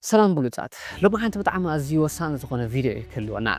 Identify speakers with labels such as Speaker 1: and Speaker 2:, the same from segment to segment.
Speaker 1: ሰላም ብሉጻት ሎምዓንቲ ብጣዕሚ ኣዝዩ ወሳኒ ዝኾነ ቪድዮ እዩ ክህልወና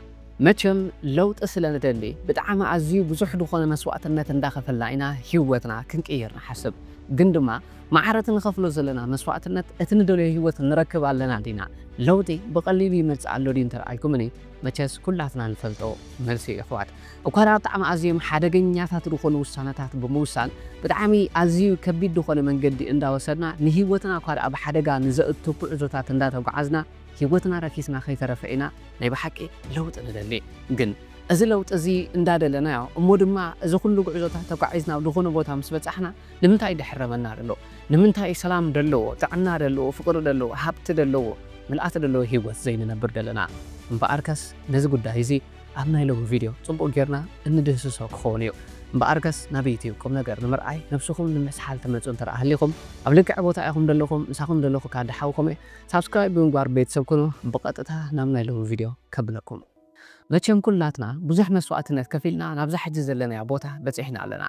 Speaker 1: መቸም ለውጢ ስለ ንደሊ ብጣዕሚ ኣዝዩ ብዙሕ ዝኾነ መስዋእትነት እንዳኸፈልና ኢና ሂወትና ክንቅይር ንሓስብ ግን ድማ ማዓረቲ ንኸፍሎ ዘለና መስዋእትነት እቲ ንደልዮ ሂወት ንረክብ ኣለና ዲና ለውጢ ብቐሊሉ ይመጽእ ኣሎ ድዩ እንተልኣልኩምኒ መቸስ ኩላትና ንፈልጦ መልሲ እዩ ኣሕዋት እኳድኣ ብጣዕሚ ኣዝዮም ሓደገኛታት ዝኾኑ ውሳነታት ብምውሳን ብጣዕሚ ኣዝዩ ከቢድ ዝኾነ መንገዲ እንዳወሰድና ንሂወትና እኳድኣ ብሓደጋ ንዘእቱ ጉዕዞታት እንዳተጓዓዝና ሂወትና ረኪስና ከይተረፈ ኢና ናይ ብሓቂ ለውጢ ንደሊ ግን እዚ ለውጢ እዚ እንዳደለናዮ እሞ ድማ እዚ ኩሉ ጉዕዞታት ተጓዒዝና ኣብ ዝኾነ ቦታ ምስ በጻሕና ንምንታይ ደሕረመና ደሎ ንምንታይ ሰላም ደለዎ ጥዕና ደለዎ ፍቅሪ ደለዎ ሃብቲ ደለዎ ምልኣት ደለዎ ሂወት ዘይንነብር ደለና እምበኣርከስ ነዚ ጉዳይ እዚ ኣብ ናይ ሎሚ ቪድዮ ጽቡቕ ጌርና እንድህስሶ ክኸውን እዩ። እምበኣርከስ ናብ ዩትዩብ ቁምነገር ንምርኣይ ነብስኹም ንምስሓል ትመጹ እንተ ሃሊኹም ኣብ ልክዕ ቦታ ኢኹም ደለኹም ምሳኹም ደለኹ ካዲ ሓው ኮሜ ሳብስክራይብ ብምግባር ቤተሰብ ኩኑ ብቐጥታ ናብ ናይ ሎሚ ቪድዮ ከብለኩም መቸም ኩላትና ብዙሕ መስዋእትነት ከፊልና ናብዛ ሕጂ ዘለናያ ቦታ በጺሕና ኣለና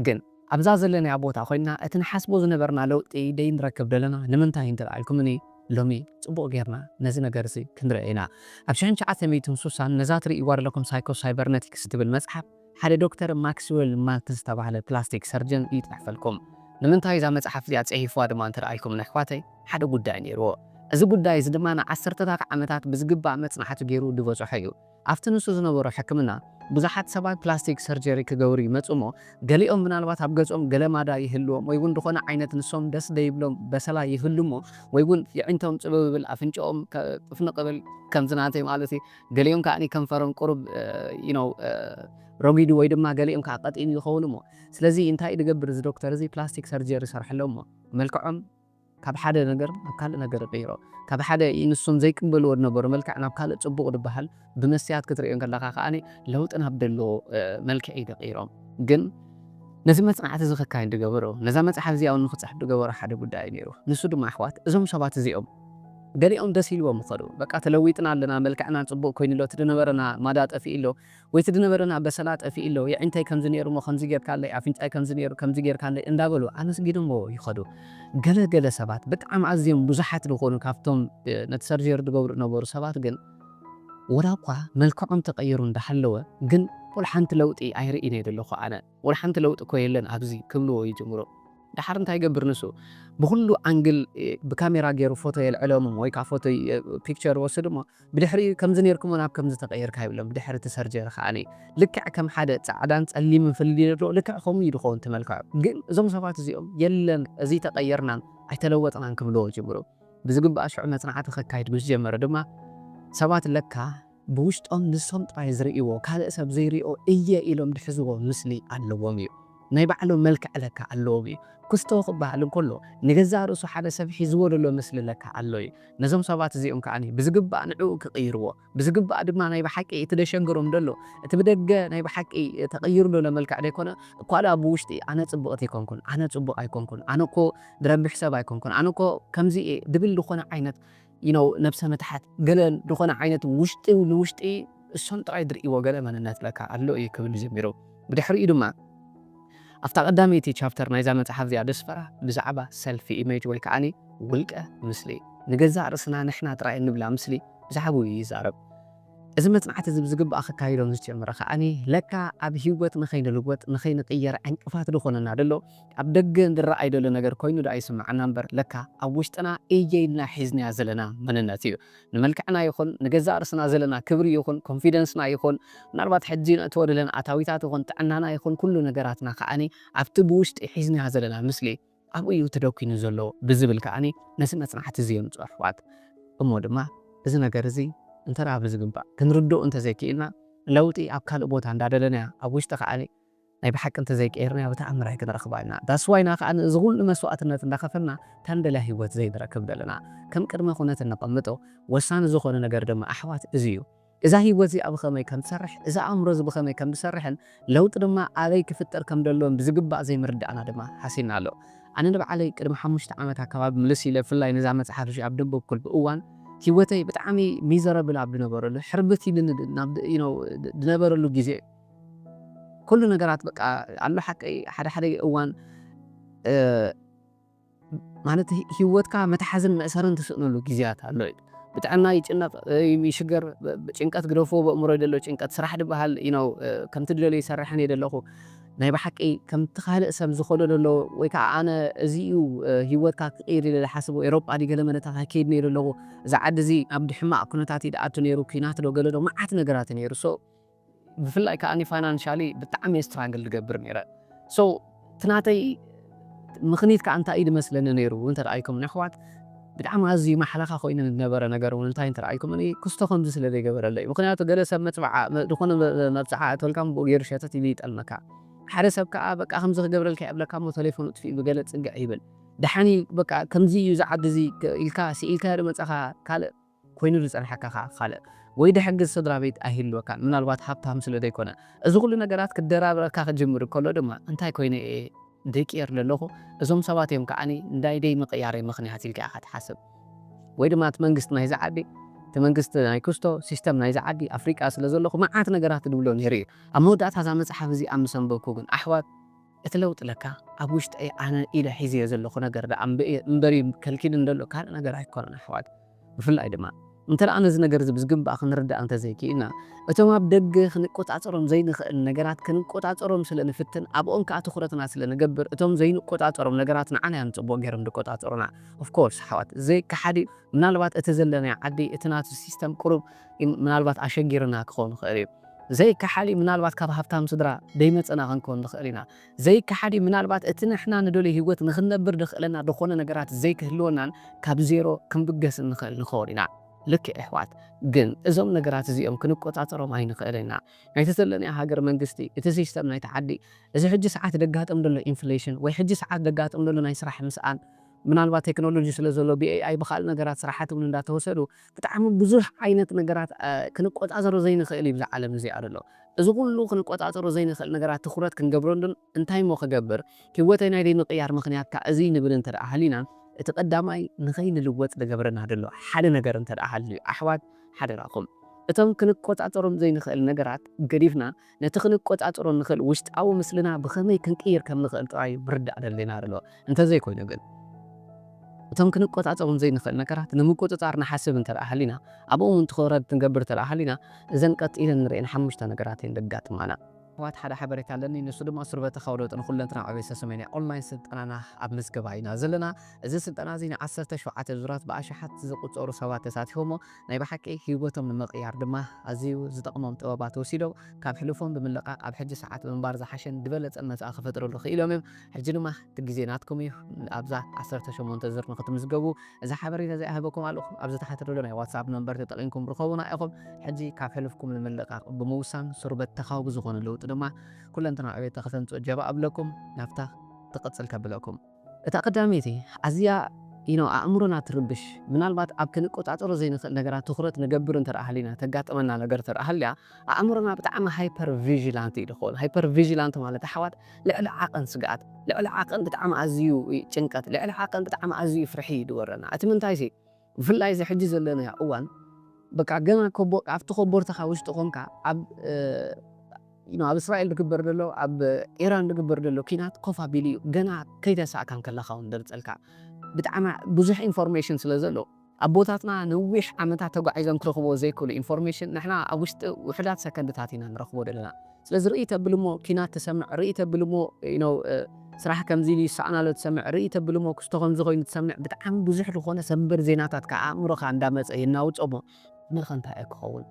Speaker 1: ግን ኣብዛ ዘለናያ ቦታ ኮይንና እቲ ንሓስቦ ዝነበርና ለውጢ ደይንረክብ ደለና ንምንታይ እንተልኣልኩምኒ ሎሚ ጽቡቅ ጌርና ነዚ ነገርዚ ክንርእዮ ኢና ኣብ ሽሕን ትሽዓተ ሚእትን ሱሳን ነዛ ትርእይዋ ደለኩም ሳይኮ ሳይበርነቲክስ ትብል መጽሓፍ ሓደ ዶክተር ማክስወል ማልትዝ ዝተባህለ ፕላስቲክ ሰርጅን እዩ ጽሕፈልኩም ንምንታይ እዛ መጽሓፍ እዚኣ ጽሒፍዋ ድማ እንተልኣልኩምኒ ኣሕዋተይ ሓደ ጉዳይ ኔርዎ እዚ ጉዳይ እዚ ድማ ንዓሰርተታት ዓመታት ብዝግባእ መጽናዕቲ ጌሩ ድበጾሖ እዩ ኣብቲ ንሱ ዝነበሮ ሕክምና፣ ብዙሓት ሰባት ፕላስቲክ ሰርጀሪ ክገብሩ ይመጹ እሞ፣ ገሊኦም ምናልባት ኣብ ገጾም ገለ ማዳ ይህልዎም ወይ ውን ዝኾነ ዓይነት ንሶም ደስ ዘይብሎም በሰላ ይህሉ እሞ ወይ ውን የዒንቶም ጽብብ ይብል፣ ኣፍንጭኦም ጥፍንቕ ይብል፣ ከምዚ ናተይ ማለት እዩ፣ ገሊኦም ከኣ ከንፈሮም ቁሩብ you know ረጒዱ ወይ ድማ ገሊኦም ከኣ ቀጢን ይኸውን እሞ፣ ስለዚ እንታይ እዩ ዝገብር እዚ ዶክተር እዚ ፕላስቲክ ሰርጀሪ ይሰርሐሎም እሞ መልክዖም፣ ካብ ሓደ ነገር ናብ ካልእ ነገር ይቕይሮ። ካብ ሓደ ንሶም ዘይቅበልዎ ዝነበሩ መልክዕ ናብ ካልእ ጽቡቕ ዝበሃል ብመስትያት ክትርእዮ ከለኻ ከኣ ለውጢ ናብ ዘለዎ መልክዕ እዩ ዝቕይሮ። ግን ነዚ መጽናዕቲ እዚ ከካይድ ዝገበሮ፣ ነዛ መጽሓፍ እዚኣ እውን ንኽጽሕፍ ዝገበሮ ሓደ ጉዳይ እዩ ነይሩ። ንሱ ድማ ኣሕዋት እዞም ሰባት እዚኦም ገሊኦም ደስ ኢልዎም ይኸዱ። በቃ ተለዊጥና ኣለና፣ መልክዕና ጽቡቕ ኮይኑ ኣሎ፣ እቲ ዝነበረና ማዳ ጠፊኡ ኣሎ፣ ወይቲ ድነበረና በሰላ ጠፊኢሎ የዒንተይ ከምዚ ነይሩሞ ከምዚ ጌርካለይ ኣፍንጫይ ከምዚ ነይሩ ከምዚ ጌርካለይ እንዳበሉ ኣመስጊኖሞ ይኸዱ ገለ ገለ ሰባት ብጣዕሚ ኣዝዮም ብዙሓት ድኾኑ ካብቶም ነቲ ሰርጀሪ ድገብሩ ድነበሩ ሰባት ግን ወላኳ መልክዖም ተቀይሩ እንዳሃለወ ግን ወላሓንቲ ለውጢ ኣይርኢን እየ ደለኹ ኣነ ወላ ሓንቲ ለውጢ እኮ የለን ኣብዚ ክብልዎ ይጅምሩ። ደሓር እንታይ ይገብር ንሱ ብኹሉ ኣንግል ብካሜራ ገይሩ ፎቶ የልዕሎም ወይ ከኣ ፎቶ ፒክቸር ይወስድ እሞ ብድሕሪኡ ከምዚ ኔርክሞ ናብ ከምዚ ተቐይርካ ይብሎም ብድሕሪ እቲ ሰርጀሪ ከኣ ልክዕ ከም ሓደ ጻዕዳን ጸሊምን ፍልልይ ኣለዎ ልክዕ ከምኡ እዩ ዝኸውን እቲ መልክዑ ግን እዞም ሰባት እዚኦም የለን እዚይተቐየርናን ኣይተለወጥናን ክብልዎ ይጅምሩ ብዝግባእ ሽዑ መጽናዕቲ ከካይድ ምስ ጀመረ ድማ ሰባት ለካ ብውሽጦም ንሶም ጥራይ ዝርእይዎ ካልእ ሰብ ዘይሪኦ እየ ኢሎም ዝሕዝዎ ምስሊ ኣለዎም እዩ። ናይ ባዕሎም መልክዕ ለካ ኣለዎም እዩ። ኩስቶ ክበሃል እንከሎ ንገዛእ ርእሱ ሓደ ሰብ ሒዝዎ ዘሎ ምስሊ ለካ ኣሎ እዩ። ነዞም ሰባት እዚኦም ከኣ ብዝግባእ ንዕኡ ክቕይርዎ፣ ብዝግባእ ድማ ናይ ብሓቂ እቲ ዘሸግሮም ዘሎ እቲ ብደገ ናይ ብሓቂ ተቐይሩ ዘሎ መልክዕ ዘይኮነ እኳ ድኣ ብውሽጢ ኣነ ጽብቕቲ ኣይኮንኩን፣ ኣነ ጽቡቕ ኣይኮንኩን፣ ኣነኮ ዝረብሕ ሰብ ኣይኮንኩን፣ ኣነኮ ከምዚ እየ ዝብል ዝኾነ ዓይነት you know ነብሰ ምትሓት ገለ ድኾነ ዓይነት ውሽጢ ንውሽጢ እሶም ጥራይ ድርእይዎ ገለ መንነት ለካ ኣሎ እዩ ክብል ጀሚሩ ብድሕሪኡ ድማ ኣብታ ቀዳመይቲ ቻፕተር ናይዛ መጽሓፍ እዚኣ ደስፈራ ብዛዕባ ሰልፊ ኢሜጅ ወይ ከዓኒ ውልቀ ምስሊ ንገዛእ ርእስና ንሕና ጥራይ እንብላ ምስሊ ብዛዕብኡ እዩ ይዛረብ እዚ መጽናዕቲ እዚ ብዝግባእ ክካይዶ ምስ ጀመረ ከዓኒ ለካ ኣብ ሂወት ንኸይንልወጥ ንኸይንቅየር ዕንቅፋት ድኾነና ደሎ ኣብ ደገ ዝረኣይ ዘሎ ነገር ኮይኑ ደኣ ይስመዓና እምበር ለካ ኣብ ውሽጥና እየ ኢልና ሒዝናዮ ዘለና መንነት እዩ። ንመልክዕና ይኹን ንገዛእ ርእስና ዘለና ክብሪ ይኹን ኮንፊደንስና ይኹን ምናልባት ሕጂ ነእትዎ ዘለና ኣታዊታት ይኹን ጥዕናና ይኹን ኩሉ ነገራትና ከኣ ኣብቲ ብውሽጢ ሒዝናዮ ዘለና ምስሊ ኣብኡ እዩ ተደኲኑ ዘሎ ብዝብል ከኣ ነዚ መጽናዕቲ እዚ የምጽኦ ኣሕዋት። እሞ ድማ እዚ ነገር እዚ እንተ ብዝግባእ ክንርድኦ እንተ ዘይክኢልና ለውጢ ኣብ ካልእ ቦታ እንዳደለናዮ ኣብ ውሽጢ ከኣ ናይ ብሓቂ እንተዘይቀይርናዮ ብተኣምር ኣይክንረኽባን ኢና። That's why ኢና ከኣ እዚ ኩሉ መስዋእትነት እንዳኸፈልና እታ እንደልያ ሂወት ዘይንረክብ ዘለና። ከም ቅድመ ኩነት እነቐምጦ ወሳኒ ዝኾነ ነገር ድማ ኣሕዋት እዚ እዩ። እዛ ሂወት እዚኣ ብኸመይ ከም ትሰርሕ፣ እዚ ኣእምሮ እዚ ብኸመይ ከም ዝሰርሕን ለውጢ ድማ ኣበይ ክፍጠር ከም ደሎን ብዝግባእ ዘይምርዳእና ድማ ሃሲና ኣሎ። ኣነ ንባዕለይ ቅድሚ ሓሙሽተ ዓመት ኣካባቢ ምልስ ኢለ ብፍላይ ነዛ መጽሓፍ እዚኣ ኣብ ደንበብኩልብ እዋን ሂወተይ ብጣዕሚ ሚዘረብል ኣብ ድነበረሉ ሕርብት ኢልኒ ናብ you know ድነበረሉ ግዜ ኩሉ ነገራት በቃ ኣሎ ሓቀይ ሓደ ሓደ እዋን ማለት ሂወትካ መትሓዝን መእሰርን ትስእነሉ ግዝያት ኣሎ እዩ ብጥዕና ይጭነቅ ይሽገር ጭንቀት ግደፎ በእምሮይ ደሎ ጭንቀት ስራሕ ድባሃል you know ከምቲ ድደልዮ ይሰርሕን እየ ደለኩ ናይ ባሓቂ ከምቲ ካልእ ሰብ ዝከዶ ደሎ ወይ ካኣ ኣነ እዚ እዩ ሂወትካ ክቅይር ኢለ ድሓስቦ ኤሮጳ ድዩ ገለ መለታት ኣይከይድ ነይሩ ኣለኩ እዚ ዓዲ እዚ ኣብ ድሕማቅ ኩነታት እዩ ድኣቱ ነይሩ ኩናት ዶ ገለ ዶ ማዓት ነገራት እዩ ነይሩ so ብፍላይ ከኣ ፋይናንሻሊ ብጣዕሚ እየ ስትራግል ዝገብር ነይረ so እቲ ናተይ ምኽኒት ከኣ እንታይ እዩ ዝመስለኒ ነይሩ እንተ ረኣይኩምኒ ኣሕዋት ብጣዕሚ ኣዝዩ ማሕለኻ ኮይኑ ዝነበረ ነገር ውን እንታይ እንተ ረኣይኩምኒ ክስቶ ከምዚ ስለ ዘይገበረለይ እዩ ምኽንያቱ ገለ ሰብ መጽብዓ ዝኾነ መብጽዓ ኣእትወልካ ንብኡ ገይሩ ሸተት ኢሉ ይጠልመካ ሓደ ሰብ ከኣ በቃ ከምዚ ክገብረልካ እየ እብለካ እሞ ተሌፎኑ ኣጥፊኡ ብገለ ጽግዕ ይብል ደሓን እዩ በቃ ከምዚ እዩ እዚ ዓዲ እዚ ኢልካ ስኢልካዮ ዶ መጻኻ ካልእ ኮይኑ ዝጸንሓካ ከኣ ካልእ ወይ ድሕግዝ ስድራቤት ኣይህልወካን፣ ምናልባት ሃብታም ስለ ዘይኮነ። እዚ ኩሉ ነገራት ክደራብረካ ክጅምር ከሎ ድማ እንታይ ኮይነ እየ ደቂር ለለኹ እዞም ሰባት እዮም ከኣ ንናይ ደይምቕያረይ ምኽንያት ኢልካ ኢኻ ትሓስብ። ወይ ድማ እቲ መንግስቲ ናይዚ ዓዲ፣ እቲ መንግስቲ ናይ ኩስቶ፣ ሲስተም ናይዚ ዓዲ፣ ኣፍሪቃ ስለ ዘለኹ መዓት ነገራት እድብሎ ነይሩ እየ። ኣብ መወዳእታ እዛ መጽሓፍ እዚኣ ምስ ኣንበብኩ ግን ኣሕዋት፣ እቲ ለውጢ ለካ ኣብ ውሽጠይ ኣነ ኢለ ሒዘዮ ዘለኹ ነገር ደኣ እምበር'ዩ ከልኪሉኒ ዘሎ ካልእ ነገር ኣይኮነን ኣሕዋት። ብፍላይ ድማ እንተደኣ ነዚ ነገር'ዚ ብዝግባእ ክንርዳእ እንተዘይክኢልና እቶም ኣብ ደገ ክንቆጻጸሮም ዘይንኽእል ነገራት ክንቆጻጸሮም ስለ ንፍትን ኣብኦም ከኣ ትኹረትና ስለ ንገብር እቶም ዘይንቆጻጸሮም ነገራት ንዓና'ዮም ጽቡቕ ጌሮም ዝቆጻጸሩና of course ኣሕዋት ዘይከሓድ'ዩ ምናልባት እቲ ዘለናዮ ዓዲ እቲ ናቱ system ቁሩብ ምናልባት ኣሸጊሩና ክኸውን ይኽእል'ዩ ዘይከሓድ'ዩ፣ ምናልባት ካብ ሃብታም ስድራ ደይመጸና ክንከውን ንኽእል ኢና። ዘይከሓድ'ዩ፣ ምናልባት እቲ ንሕና ንደልዮ ህይወት ንኽንነብር ደኽእለና ደኾነ ነገራት ዘይክህልወናን ካብ ዜሮ ክንብገስን ንኽእል ንኸውን ኢና። ልክዕ የሕዋት፣ ግን እዞም ነገራት እዚኦም ክንቆጻጸሮም ኣይንኽእልን ኢና። ናይቲ ዘለናዮ ሃገር መንግስቲ፣ እቲ ሲስተም ናይቲ ዓዲ፣ እዚ ሕጂ ሰዓት ደጋጥም ደሎ ኢንፍሌሽን ወይ ሕጂ ሰዓት ደጋጥም ደሎ ናይ ስራሕ ምስኣን፣ ምናልባት ቴክኖሎጂ ስለ ዘሎ ብ AI ብካልእ ነገራት ስራሓት እውን እንዳተወሰዱ ብጣዕሚ ብዙሕ ዓይነት ነገራት ክንቆጻጸሮ ዘይንክእል እዩ እብዛ ዓለም እዚኣ ዘሎ። እዚ ኩሉ ክንቆጻጸሮ ዘይንክእል ነገራት ትኩረት ክንገብረሉን እንታይ እሞ ክገብር ሂወተይ ናይ ዘይምቅያር ምክንያት ከ እዚ ንብል እንተ ሃሊና እቲ ቀዳማይ ንከይንልወጥ ዝገብረና ዘሎ ሓደ ነገር እንተ ሃልዩ ኣሕዋት ሓደራኩም እቶም ክንቆጻጸሮም ዘይንክእል ነገራት ገዲፍና ነቲ ክንቆጻጸሮ እንኽእል ውሽጣዊ ምስልና ብኸመይ ክንቅይር ከም ንኽእል ጥራይ'ዩ ምርዳእ ዘድልየና ዘሎ። እንተ ዘይኮይኑ ግን፣ እቶም ክንቆጻጸሮም ዘይንኽእል ነገራት ንምቁጽጻር ንሓስብ እንተ ደኣ ሃሊና፣ ኣብኦም'ውን ትኹረት ክንገብር እንተ ደኣ ሃሊና፣ እዘን ቀጺለን እንርእየን ሓሙሽተ ነገራት እየን ዘጋጥማና። ኣሕዋት ሓደ ሓበሬታ ኣለኒ ንሱ ድማ ሱርበተካዊ ለውጢ ንኩለንትና ዕቤሰ ሰሜንያ ኦንላይን ስልጠናና ኣብ ምዝገባ ኢና ዘለና እዚ ስልጠና እዚ ንዓሰርተ ሸውዓተ ዙራት ብኣሽሓት ዝቁጸሩ ሰባት ተሳቲፎሞ ናይ ብሓቂ ህይወቶም ንምቕያር ድማ ኣዝዩ ዝጠቕሞም ጥበባት ወሲዶም ካብ ሕሉፎም ብምልቃቕ ኣብ ሕጂ ሰዓት ምንባር ዝሓሸን ድበለጸን መጻኢ ክፈጥርሉ ክኢሎም እዮም። ሕጂ ድማ እቲ ግዜ ናትኩም እዩ። ኣብዛ ዓሰርተ ሸሞንተ ዝር ንክትምዝገቡ እዚ ሓበሬታ እዚ ኣህበኩም ኣለኹ። ኣብዚ ታሕቲ ዘሎ ናይ ዋትስኣፕ ነምበር ተጠቒምኩም ርኸቡና ኢኹም። ሕጂ ካብ ሕሉፍኩም ንምልቃቕ ብምውሳን ስሩ በተኻዊ ብዝኾነ ለውጢ ድማ ኩለንትናዊ ዕቤት ንክተምጽኡ ጀባ እብለኩም። ናብታ ትቕጽል ከብለኩም። እታ ቀዳመይቲ ኣዝያ you know ኣእምሮና ትርብሽ ምናልባት ኣብ ክንቆጻጸሮ ዘይንኽእል ነገራት ትኹረት ንገብር እንተ ሃሊና ተጋጥመና ነገር እንተ ሃልያ ኣእምሮና ብጣዕሚ ሃይፐር ቪጂላንት እዩ ዝኸውን ሃይፐር ቪጂላንት ማለት ኣሕዋት ልዕሊ ዓቐን ስግኣት ልዕሊ ዓቐን ብጣዕሚ ኣዝዩ ጭንቀት ልዕሊ ዓቐን ብጣዕሚ ኣዝዩ ፍርሒ እዩ ዝወረና እቲ ምንታይሲ ብፍላይ እዚ ሕጂ ዘለናዮ እዋን በቃ ገና ኮቦ ኣብቲ ኮቦርታኻ ውሽጢ ኮንካ ኣብ you know ኣብ እስራኤል ዝግበር ዘሎ ኣብ ኢራን ዝግበር ዘሎ ኲናት ኮፍ ኣቢሉ እዩ ገና ከይተሳእካ እንከለኻ ውን ዘርጸልካ ብጣዕሚ ብዙሕ ኢንፎርሜሽን ስለ ዘሎ ኣቦታትና ነዊሕ ዓመታት ተጓዒዞም ክረኽብዎ ዘይክእሉ ኢንፎርሜሽን ንሕና ኣብ ውሽጢ ውሑዳት ሰከንድታት ኢና ንረኽቦ ዘለና። ስለዚ ርእይ ተብል እሞ ኪናት ትሰምዕ ርእይ ተብል እሞ you know ስራሕ ከምዚ ኢሉ ይሳኣን ኣሎ ትሰምዕ ርእይ ተብል እሞ ክስቶ ከምዚ ኮይኑ ትሰምዕ ብጣዓሚ ብዙሕ ልኾነ ሰምብር ዜናታት ካኣ ኣእምሮኻ እንዳ መጸ የናውጾ እሞ ንርኸ እንታይ እየ ክኸውን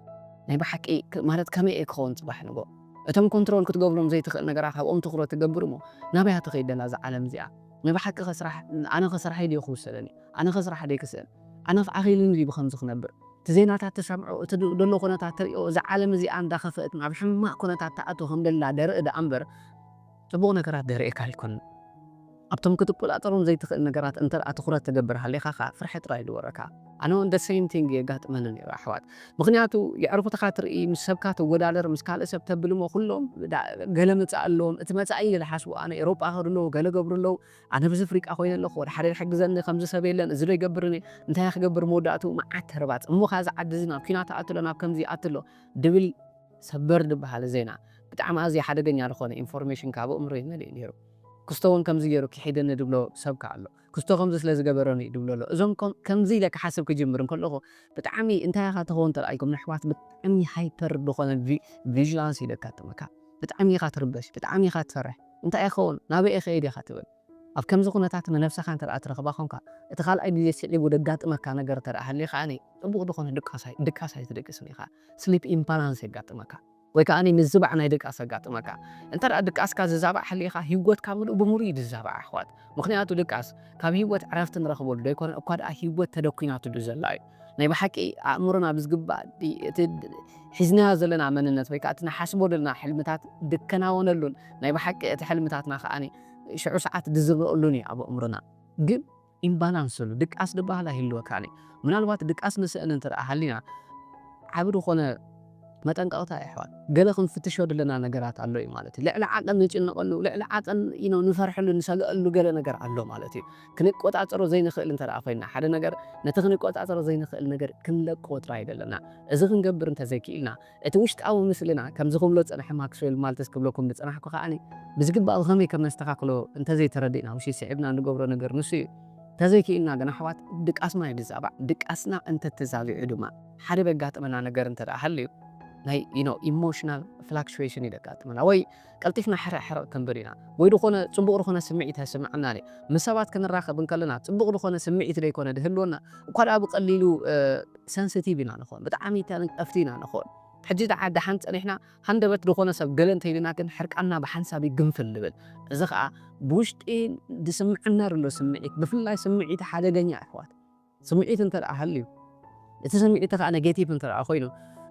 Speaker 1: ናይ ብሓቂ ማለት ከመይ እየ ክኸውን ጽባሕ ንግሆ እቶም ኮንትሮል ክትገብሮም ዘይትኽእል ነገራት ኣብኦም ትኹረት ትገብር እሞ ናበይ እያ ትኸይድ ደላ እዛ ዓለም እዚኣ ናይ ብሓቂ ከ ስራሕ ኣነ ከ ስራሐይ ድየ ክውሰደኒ ኣነ ከ ስራሕ ደይ ክስእን ኣነ ከ ዓኺሉኒ ድዩ ብኸምዚ ክነብር እቲ ዜናታት ትሰምዖ፣ እቲ ዘሎ ኩነታት ትሪኦ፣ እዛ ዓለም እዚኣ እንዳኸፈእት ናብ ሕማቕ ኩነታት ትኣቱ ከም ዘላ ደርኢ ደኣ እምበር ጽቡቕ ነገራት ደርእየካ ኣይኮነን። ኣብቶም ክትቆጻጸሮም ዘይትኽእል ነገራት እንተ ደኣ ትኹረት ትገብር ሃሊኻ ከኣ ፍርሒ ጥራይ እዩ ዝወረካ። ኣነ ውን the same thing እዩ የጋጥመኒ ነይሩ ኣሕዋት። ምኽንያቱ የዕርኹትኻ ትርኢ፣ ምስ ሰብካ ትወዳደር፣ ምስ ካልእ ሰብ ተብል እሞ ኩሎም ገለ መጻኢ ኣለዎም፣ እቲ መጻኢ ኢለ ዝሓስቦ ኣነ ኤሮጳ ይኸዱ ኣለዉ፣ ገለ ይገብሩ ኣለዉ፣ ኣነ ብዚ ፍሪቃ ኮይነ ኣለኩ ወላ ሓደ ድሕግዘኒ ከምዚ ሰብ የለን እዚ ዶ ይገብር እኔ እንታይ እየ ክገብር መወዳእትኡ መዓት ተርባጽ እሞ ከኣ እዚ ዓዲ እዚ ናብ ኩናት ኣእቱ ኣሎ ናብ ከምዚ ይኣቲ ኣሎ ድብል ሰበር ድበሃል ዜና ብጣዕሚ ኣዝየ ሓደገኛ ድኮነ ኢንፎርሜሽን ከኣ ኣብ ኣእምሮይ መሊኡ ኔሩ ክስቶ ውን ከምዚ ጌሩ ኪሒደኒ ድብሎ ሰብ ከኣ ኣሎ ክስቶ ከምዚ ስለ ዝገበረኒ እዩ ድብሎ ኣሎ እዞም ኮም ከምዚ ኢለ ክሓስብ ክጅምር እንከለኩ ብጣዕሚ እንታይ ኢካ ትከውን ተላኢልኩም ነሕዋት ብጣዕሚ ሃይፐር ድኮነ ቪ ቪጅላንስ እዩ ደጋጥመካ ብጣዕሚ ኢካ ትርበሽ ብጣዕሚ ኢካ ትፈርሕ እንታይ ይኸውን? ናበይ እኸይድ ኢኻ ትብል? ኣብ ከምዚ ኩነታት ንነብሰኻ እንተደኣ ትረኽባ ኮንካ፣ እቲ ካልኣይ ግዜ ስዒቡ ዘጋጥመካ ነገር እንተደኣ ሃልዩ ከኣ ጽቡቕ ዝኾነ ድቃስ ድቃስ ኣይትድቅስን ኢኻ፣ Sleep Imbalance፣ የጋጥመካ። ወይ ከኣ ምዝባዕ ናይ ድቃስ የጋጥመካ። እንተደኣ ድቃስካ ዝዛባዕ ሃሊኻ ሂወትካ ምሉእ ብምሉእ እዩ ዝዛባዕ ኣሕዋት። ምኽንያቱ ድቃስ ካብ ሂወት ዕረፍቲ ንረኽበሉ ዘይኮነ እኳ ደኣ ሂወት ተደኲናትሉ ዘላ እዩ። ናይ ብሓቂ ኣእምሮና ብዝግባእ እቲ ሒዝናዮ ዘለና መንነት ወይ ከኣ እቲ ንሓስቦ ዘለና ሕልምታት ድከናወነሉን ናይ ብሓቂ እቲ ሕልምታትና ከኣ ሽዑ ሰዓት ድዝረኡሉን እዩ ኣብ ኣእምሮና ግን ኢምባላንስ እሉ ድቃስ ድበሃል ኣይህልወካን እዩ ምናልባት ድቃስ ንስእን እንተ ሃሊና ዓቢ ድኾነ መጠንቀቕታ እዩ ኣሕዋት ገለ ክንፍትሾ ድለና ነገራት ኣሎ እዩ ማለት እዩ ልዕሊ ዓቐን ንጭነቐሉ ልዕሊ ዓቐን ንፈርሐሉ ንሰገኣሉ ገለ ነገር ኣሎ ማለት እዩ። ክንቆጻጸሮ ዘይንኽእል እንተ ደኣ ዄንና፣ ሓደ ነገር ነቲ ክንቆጻጸሮ ዘይንኽእል ነገር ክንለቅዎ ጥራይ እዩ ደለና። እዚ ክንገብር እንተ ዘይክኢልና፣ እቲ ውሽጣዊ ምስልና፣ ከምዚ ክብሎ ዝጸንሐ ማክስዌል ማልትዝ ክብለኩም ዝጸናሕኩ ኸኣ ብዝግባእ ብኸመይ ከም ነስተኻኽሎ እንተ ዘይተረዲእና ውሽይ ስዒብና እንገብሮ ነገር ንሱ እዩ። እንተ ዘይክኢልና ግና ኣሕዋት፣ ድቃስና እዩ ዝዛባዕ። ድቃስና እንተ ተዛቢዑ ድማ፣ ሓደ ዘጋጥመና ነገር እንተ ደኣ ሃልዩ፣ ናይ you know ኢሞሽናል ፍላክቹዌሽን እዩ ዘጋጥመና፣ ወይ ቀልጢፍና ሕርቕ ሕርቕ ክንብል ኢና ወይ ድኾነ ጽቡቕ ድኾነ ስምዒት ኣይስምዓናን እዩ። ምስ ሰባት ክንራኸብ እንከለና ጽቡቕ ድኾነ ስምዒት ደይኮነ ድህልወና እኳ ድኣ ብቐሊሉ ሰንስቲቭ ኢና ንኾን፣ ብጣዕሚ ተንቀፍቲ ኢና ንኾን። ሕጂ ድኣ ድሓን ጸኒሕና ሃንደበት ድኾነ ሰብ ገለ እንተኢሉና ግን ሕርቃንና ብሓንሳብ እዩ ግንፍል ድብል። እዚ ኸኣ ብውሽጢ ድስምዓና ድሎ ስምዒት ብፍላይ ስምዒት ሓደገኛ ኣሕዋት፣ ስምዒት እንተ ደኣ ሃልዩ፣ እቲ ስምዒት ከኣ ነገቲቭ እንተ ደኣ ኮይኑ፣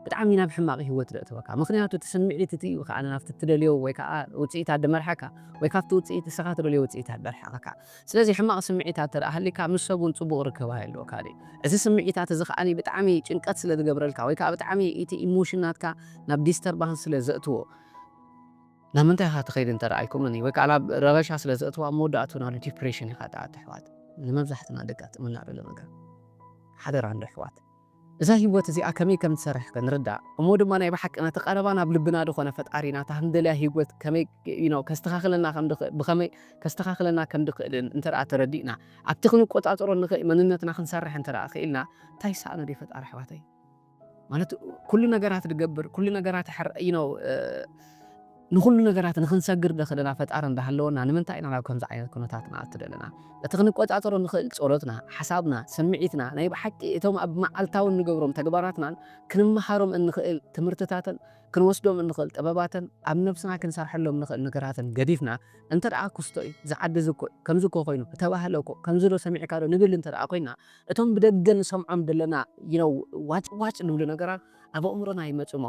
Speaker 1: ብጣዕሚ ናብ ሕማቕ ህይወት ደእትወካ። ምኽንያቱ እቲ ስምዒት እቲ እዩ ከኣ ናብቲ እትደልዮ ወይ ከኣ ውጽኢታት ድመርሓካ፣ ወይ ካብቲ ውጽኢት ንስኻ ትደልዮ ውጽኢታት ደርሓቐካ። ስለዚ ሕማቕ ስምዒታት እንተ ደኣ ሃልዩካ፣ ምስ ሰብ እውን ጽቡቕ ርክብ ኣይህልወካን እዩ። እዚ ስምዒታት እዚ ከኣ ብጣዕሚ ጭንቀት ስለ ዝገብረልካ፣ ወይ ከኣ ብጣዕሚ እቲ ኢሞሽን ናትካ ናብ ዲስተርባንስ ስለ ዘእትዎ፣ ናብ ምንታይ ኢኻ ትኸይድ እንተ ኣይኮነን ወይ ከኣ ናብ ረበሻ ስለ ዘእትዎ ኣብ መወዳእትኡ ናብ ዲፕሬሽን ኢኻ ትኣቱ ኣሕዋት ንመብዛሕትና ደቂ ኣጥዕመና ደሎ ነገር ሓደራ እንዶ ኣሕዋት እዛ ሂወት እዚኣ ከመይ ከም ትሰርሕ ክንርዳእ እሞ ድማ ናይ ብሓቂ ነቲ ቀረባ ናብ ልብና ድኾነ ፈጣሪና እታ ክንደልያ ሂወት ከመይ you know ከስተኻኽለና ከም ድኽእል ብኸመይ ከስተኻኽለና ከም ድኽእልን እንተ ተረዲእና ኣብቲ ክንቆጻጸሮ ንኽእል መንነትና ክንሰርሕ እንተ ክኢልና እንታይ ይሰኣኖ ድዩ ፈጣሪ ኣሕዋተይ ማለት ኩሉ ነገራት ድገብር ኩሉ ነገራት ሕር ዩ ነው ንኹሉ ነገራት ንክንሰግር ደኽእለና ፈጣሪ እንዳሃለወና ንምንታይ ኢና ናብ ከምዚ ዓይነት ኩነታት ንኣቱ ዘለና? እቲ ክንቆጻጸሮ ንኽእል ጸሎትና፣ ሓሳብና፣ ስምዒትና፣ ናይ ብሓቂ እቶም ኣብ መዓልታዊ እንገብሮም ተግባራትናን ክንመሃሮም እንኽእል ትምህርትታትን ክንወስዶም እንኽእል ጥበባትን ኣብ ነብስና ክንሰርሐሎም ንኽእል ነገራትን ገዲፍና እንተድኣ ኩስቶ ዩ ዝዓዲ እዚ እኮ ከምዚ እኮ ኮይኑ ተባህለ እኮ ከምዚ ዶ ሰሚዕካ ዶ ንብል እንተድኣ ኮይና እቶም ብደገ ንሰምዖም ደለና you know ዋጭ ዋጭ ልብሉ ነገራት ኣብ ኣእምሮና ይመጹ'ሞ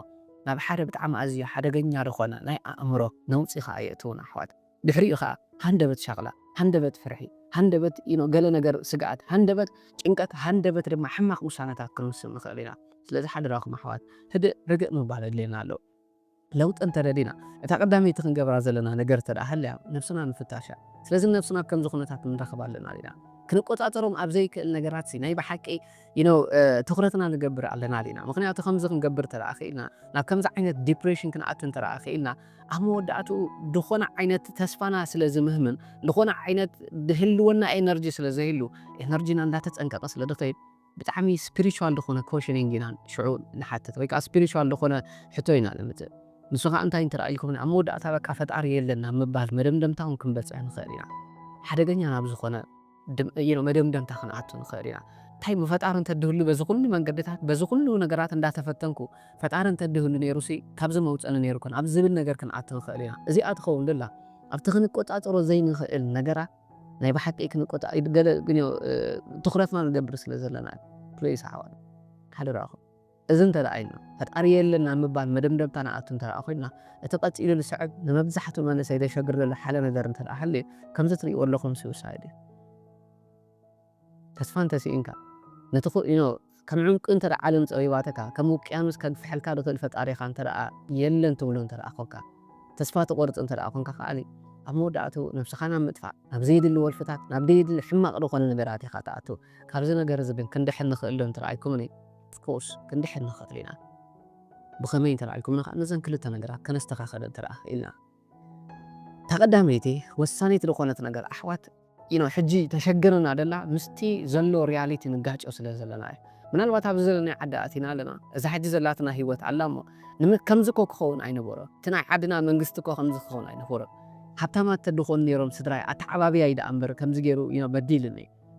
Speaker 1: ናብ ሓደ ብጣዕሚ ኣዝዩ ሓደገኛ ልኾነ ናይ ኣእምሮ ነውጺ ኸኣ የእትዉና ኣሕዋት። ድሕሪኡ ኸኣ ሃንደበት ሻቕላ፣ ሃንደበት ፍርሒ፣ ሃንደበት you know ገለ ነገር ስግኣት፣ ሃንደበት ጭንቀት፣ ሃንደበት ድማ ሕማቕ ውሳነታት ክንውስን ንኽእል ኢና። ስለዚ ሓደራኹም ኣሕዋት ህድእ ርግእ ምባል የድልየና ኣሎ። ለውጢ እንተ ደሊና እታ ቀዳመይቲ ክንገብራ ዘለና ነገር እንተ ሃልያ ነብስና ምፍታሽ እያ። ስለዚ ንነብስና ኣብ ከምዚ ኩነታት ንረኽባ ኣለና ዲና? ክንቆጻጸሮም ኣብ ዘይክእል ነገራት ሲ ናይ ብሓቂ you know ትኹረትና ንገብር ኣለና ዲና? ምኽንያቱ ከምዚ ክንገብር እንተ ክኢልና ናብ ከምዚ ዓይነት ዲፕሬሽን ክንኣቱ እንተ ክኢልና ኣብ መወዳእትኡ ዝኾነ ዓይነት ተስፋና ስለ ዝምህምም ዝኾነ ዓይነት ዝህልወና ኤነርጂ ስለ ዘይህሉ ኤነርጂና እንዳተጸንቀቐ ስለ ዝኸይድ ብጣዕሚ ስፕሪቹዋል ዝኾነ ኮሽኒንግ ኢና ሽዑ ንሓትት ወይ ከኣ ስፕሪቹዋል ዝኾነ ሕቶ ኢና ነምጽእ ንሱ ከኣ እንታይ እንተረኣይልኩምኒ ኣብ መወዳእታ በቃ ፈጣሪ የለን ናብ ምባል መደምደምታ ውን ክንበጽሕ ንኽእል ኢና ሓደገኛ ናብ ዝኾነ መደምደምታ ክንኣቱ ንኽእል ኢና እንታይ እሞ ፈጣሪ እንተድህሉ በዚ ኩሉ መንገድታት በዚ ኩሉ ነገራት እንዳተፈተንኩ ፈጣሪ እንተድህሉ ኔሩሲ ካብዚ መውጸኒ ኔሩ ኮን ኣብ ዝብል ነገር ክንኣቱ ንኽእል ኢና እዚኣ ትኸውን ድላ ኣብቲ ክንቆጻጸሮ ዘይንኽእል ነገራት ናይ ብሓቂ ክንቆጣ ኢዩ ገለ ግን ትኩረትና ንገብር ስለ ዘለና ኢዩ please ኣሕዋት ሓደራኩም እዚ እንተ ኢልና ፈጣሪ የለን ናብ ምባል መደምደምታ ንኣቱ እንተ ኮይና እቲ ቀጺሉ ዝስዕብ ንመብዛሕቱ መንእሰይ ዘሸግር ዘሎ ሓለ ነገር እንተ ሃልዩ ከምዚ ትሪእዎ ኣለኩም suicide ኢዩ። ተስፋ እንተ ስኢንካ፣ ነቲ ክኢኖ ከም ዑንቂ እንተ ዓለም ጸቢባትካ፣ ከም ውቅያኖስ ከግፍሐልካ ዝኽእል ፈጣሪኻ እንተ የለን ትብሎ እንተ ኰንካ፣ ተስፋ ትቖርጽ እንተ ኰንካ ከኣ፣ ኣብ መወዳእትኡ ነብስኻ ናብ ምጥፋእ፣ ናብ ዘየድሊ ወልፍታት፣ ናብ ደየድሊ ሕማቕ ዝዀነ ነገራት ኢኻ ትኣቱ። ካብዚ ነገር እዚ ግን ክንድሕን ንኽእል ዶ እንተ ኢልኩምኒ፣ of course ክንድሕን ንኽእል ኢና። ብኸመይ እንተ ኢልኩምኒ ከኣ፣ ነዘን ክልተ ነገራት ከነስተኻኽል እንተ ኽኢልና። እታ ቀዳመይቲ ወሳኒት ልኾነት ነገር ኣሕዋት ዩኖ ሕጂ ተሸግርና ደላ ምስቲ ዘሎ ርያሊቲ ንጋጮ ስለ ዘለና እዩ ምናልባት ኣብዚ ዘለናዮ ዓዲ ኣቲና ኣለና እዛ ሕጂ ዘላትና ሂወት ኣላ እሞ ንመ ከምዚ እኮ ክኸውን ኣይነበሮ እቲ ናይ ዓድና መንግስቲ እኮ ከምዚ ክኸውን ኣይነበሮን ሃብታማት ተድኾኑ ኔሮም ስድራይ ኣተዓባብያይ ደኣ እምበር ከምዚ ጌሩ ዩኖ በዲልኒ